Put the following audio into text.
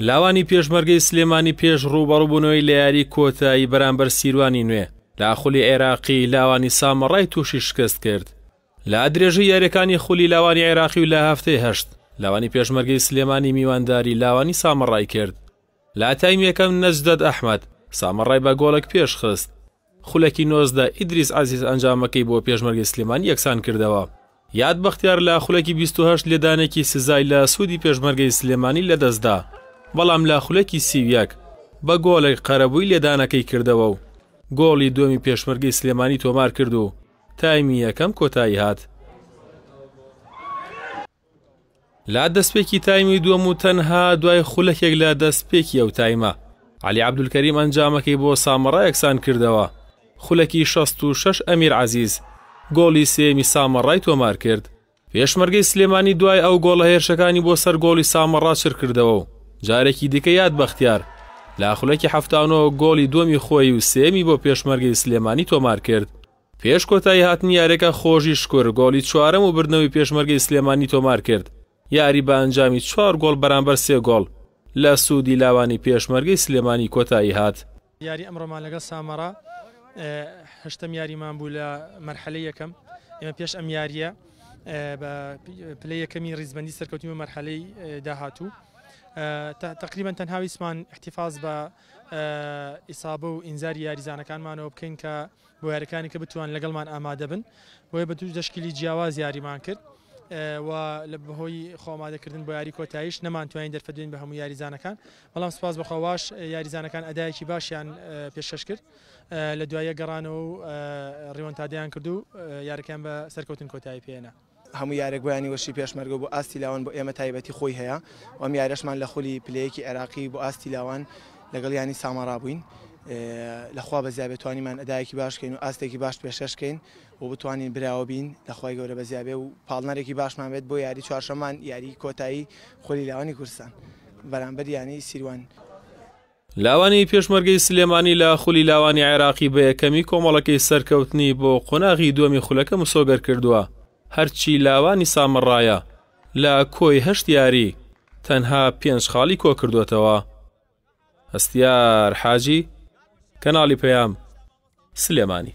لاوانی پێشمەرگەی سلێمانی پێش ڕووبەڕووبوونەوەی لە یاری کۆتایی بەرامبەر سیروانی نوێ لە خولی عێراقی لاوانی سامەڕای تووشی شکست کرد لە درێژەی یاریەکانی خولی لاوانی عێراقی و لە هەفتەی هەشت لاوانی پێشمەرگەی سلێمانی میوانداری لاوانی سامەڕای کرد لە تایم یەکەم نەجدەت ئەحمەد سامەڕای بە گۆڵێک پێش خست، خولەکی نۆزدە ئیدریس عەزیز ئەنجامەکەی بۆ پێشمەرگەی سلێمانی یەکسان کردەوە، یاد بەختیار لە خولەکی بیست و هەشت لێدانێکی سزای لە سوودی پێشمەرگەی سلێمانی لە دەست دا، بەڵام لە خولەکی سی و یەک بە گۆڵێک قەرەبووی لێدانەکەی کردەوە و گۆڵی دووەمی پێشمەرگەی سلێمانی تۆمار کرد و تایمی یەکەم کۆتایی هات. لە دەستپێکی تایمی دووەم و تەنها دوای خولەکێک لە دەستپێکی ئەو تایمە، عەلی عەبدولکەریم ئەنجامەکەی بۆ سامەڕا یەکسان کردەوە، خولەکی شەست و شەش ئەمیر عەزیز گۆڵی سێیەمی سامەڕای تۆمارکرد، پێشمەرگەی سلێمانی دوای ئەو گۆڵە هێرشەکانی بۆ سەر گۆڵی سامەڕا چرکردەوە و جارێکی دیکە یاد بەختیار لە خولەکی حەفتا و نۆ گۆڵی دووەمی خۆی و سێیەمی بۆ پێشمەرگەی سلێمانی تۆمارکرد. پێش کۆتایی هاتنی یاریەکە خۆژی شکور گۆڵی چوارەم و بردنەوەی پێشمەرگەی سلێمانی تۆمارکرد، یاری بە ئەنجامی چوار گۆڵ بەرامبەر سێ گۆڵ لە سوودی لاوانی پێشمەرگەی سلێمانی کۆتایی هات. یاری ئەمڕۆمان لەگەڵ سامەڕا هەشتەم یاریمان بوو لە مەرحەلەی یەکەم، ئێمە پێش ئەم یارییە بە پلەی یەکەمی ریزبەندی سەرکەوتین بۆ مەرحەلەی داهاتوو تەقریبەن تەنها ویستمان ئیحتیفاز بە ئیسابە و ئینزاری یاریزانەکانمانەوە بکەین کە بۆ یاریکانی کە بتوان لەگەڵمان ئامادە بن بۆیە بە دوو دەشکیلی جیاواز یاریمان کرد و لە بەهۆی خۆمادەکردن بۆ یاری کۆتایش نەمانتوانین دەرفەدوین بە هەموو یاریزانەکان بەڵام سپاس بەخواواش یاریزانەکان ئەدایەکی باشیان پێشکەش کرد لە دوایە گەڕانەوە و ڕیۆنتادیان کردو یارەکەیان بە سەرکەوتن کۆتایی پێێنە. هەموو یارێک بۆ یانی وەرشی پێشمەرگە و بۆ ئاستی لاوان بۆ ئێمە تایبەتی خۆی هەیە و ئەم یاریەشمان لە خولی پلەیەکی عێراقی بۆ ئاستی لاوان لەگەڵ یانی سامارا بووین لەخوا بە زیابێ توانیمان ئەدایەکی باشکەین و ئاستێکی باش پێشێشکەین و بتوانین براوە بین لەخوای گەورە بە زیابێ و پاڵنەرێکی باشمان بێت بۆ یاری چوارشەمان یاری کۆتایی خولی لاوانی کورسان بەرامبەر یانی سیروان لاوانی پێشمەرگەی سلێمانی لە خولی لاوانی عێراقی بە یەکەمی کۆمەڵەکەی سەرکەوتنی بۆ قۆناغی دووەمی خولەکە مسۆگەر کردووە، هەرچی لاوانی سامەڕایە لە کۆی هەشت یاری تەنها پێنج خاڵی کۆکردۆتەوە. هەستیار حاجی، کەناڵی پەیام، سلێمانی.